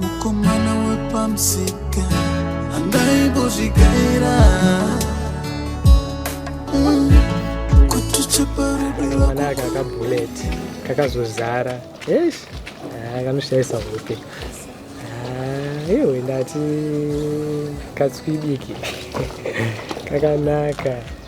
mukomana wepamusika angaibozvigaira mm. mwana aka kabullet kakazozara yes ah, kanoshaisa hope ah, iwe ndati katswidiki kakanaka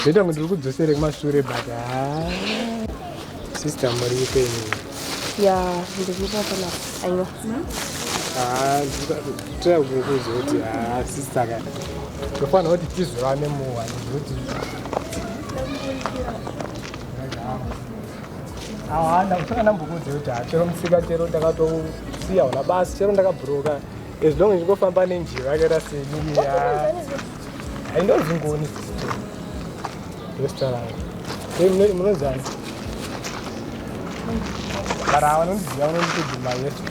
Zvoita kuti ndiri kudzosere kumashure but haa. Sister muri ipe ini. Ya, ndikupa pana aiwa. Haa, tira kukuzo kuti haa sister ka. Tofana kuti tizvane muwa nekuti. Haa, ndakusaka ndambukudze kuti haa chero musika chero ndakatosiya wala basi chero ndakabhuroka. As long as ndikofamba nenjiva yakaita seniya. Hainonzi ngoni restaurant. Hey, munozana. Bara hawa nondiziva vanonditodzi mai yesu.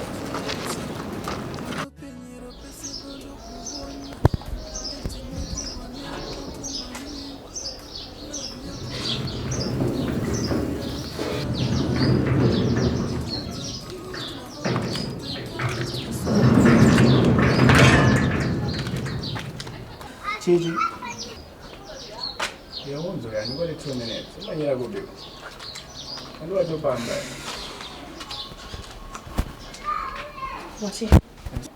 Chichi. Yaunzo yani kwa two minutes. Umanyira kubi. Ndio wachopamba. Wachi.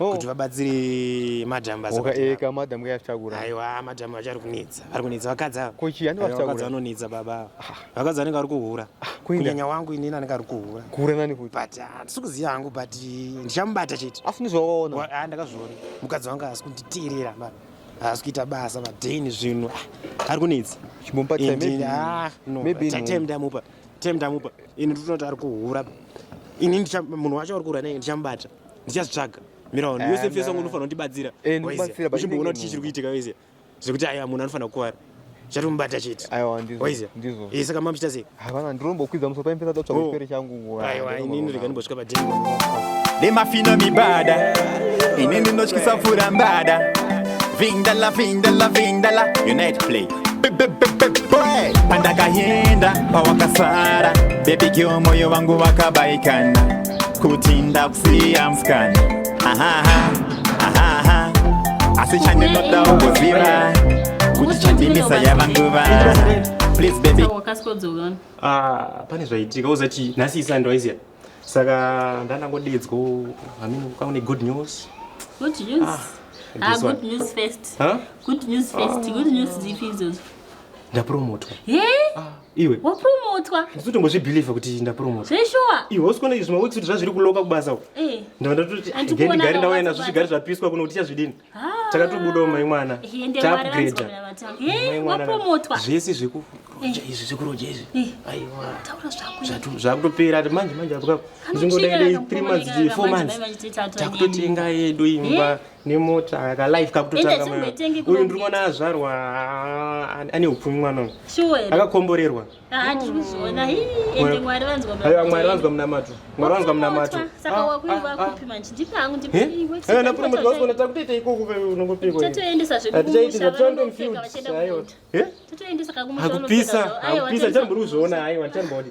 oh. kuti vabatsire madam basaeka eh, madam kayaftakura aiwa madam vachari kunetsa vari kunetsa vakadzi ava kochi yani vakadzi vanonetsa baba ava ah. vakadzi vanenge vari kuhura ah, kunyanya wangu inini anenge ari kuhura kuhura nani kuti but ah, handisi kuziva hangu but ndichamubata chete asi ndizvawaona ndakazviona mukadzi wangu asi kunditeerera baba haasi kuita basa madeni zvinhu ari kunetsa chimupatamdamupa tamdamupa ini ndinoti ari kuhura ini munhu wacho ari kuhura nei ndichamubata ndichazvitsvaga mira wani yose fesa ngo unofanira kundibatsira eh, uchimboona kuti chii chiri kuitika wese zvekuti aya munhu anofanira kukuvara chatomubata chete eh, saka mamuchita sei havana ndirombokwidza musoro paimhesa totsvaga oh. chipere changu aiwa inini rega ndimbosvika padheni nemafino mibada ini ndinotyisa pfura mbada vindala vindala vindala unite play pandakayenda pawakasara bebigeo moyo wangu wakabaikana kuti ndakusiya mskani asi chandinoda ugoziva kuti chandimisa yava nguva ah, pane zvaitika uzati nhasi isani ndwaiziya saka ndandangodedzwa amini ukaune good news good news ah, ah good news first huh? good news first ah. good news dzipi idzodzo ndapromotwa hey? ah. iwe wapurumutwa ndisi tombozvibhilivha kuti ndapurumutwa zveshuwa iwe usikuona izvi maweeks kuti zvazviri kuloka kubasa u eh. ndavanda toti gendigari ndauya nazvo zvigari zvapiswa kuno kuti tichazvidini ah. takatobudawo mai mwana taupgrada zvese zvekuroja eh. izvi zvekuroja izvi eh. aiwa zvakutopera ati manje manje apo kapo ndingodaidei three months four months takutotenga yedu imba yeah. nemota ka life kakutotanga uyu ndiri kuona azvarwa ane upfumi mwana uyu akakomborerwa ah, aiwa mwari vanzwa munamato mwari vanzwa munamato napuromotiwaona takutoita ikoko unongopikoatichaitizatoendomfield aiwa akupisa akupisa ndichambori kuzviona aiwa ndichambori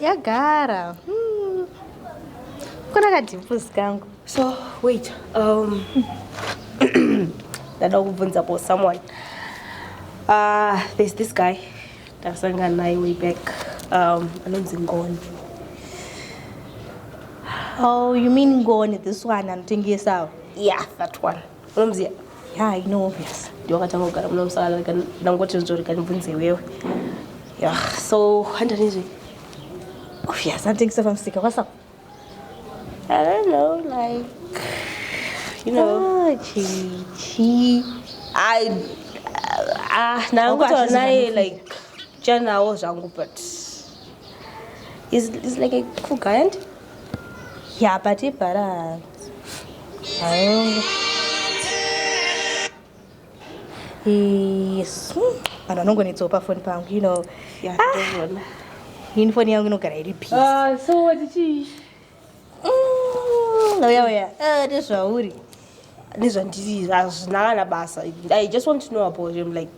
yagara hmm. kuna kadhipus kangu so wait um, ndada kubvunza po someone uh, there's this guy ndasangana naye way back um, anonzi ngoni oh you mean ngoni this one anotengesawo yeah that one unonzi ya ino obvious ndiwakatanga kugara muno musakareka ndangoti nzvoreka ndibvunze iwewe ya so handanizve obvious anditengisa pamusika kwasa i don't know like you know ah, chichi i ah ndangutaura naye like chanawo zvangu but is is like a cool guy and yeah but ibhara yes vanhu vanongonetsawo pafoni pangu you know ini foni yangu inogara iri psouya uya nezvauri nezvandiri hazvina kana basa i just want to know about him like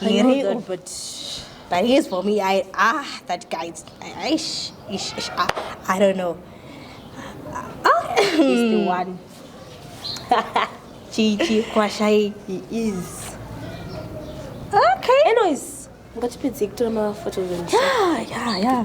here oh, but but he is for me i ah that guy ish ish ish ah, i don't know ah he's the one chichi kwashai he is okay anyways ngatipedzei kutora maphotos and yeah yeah yeah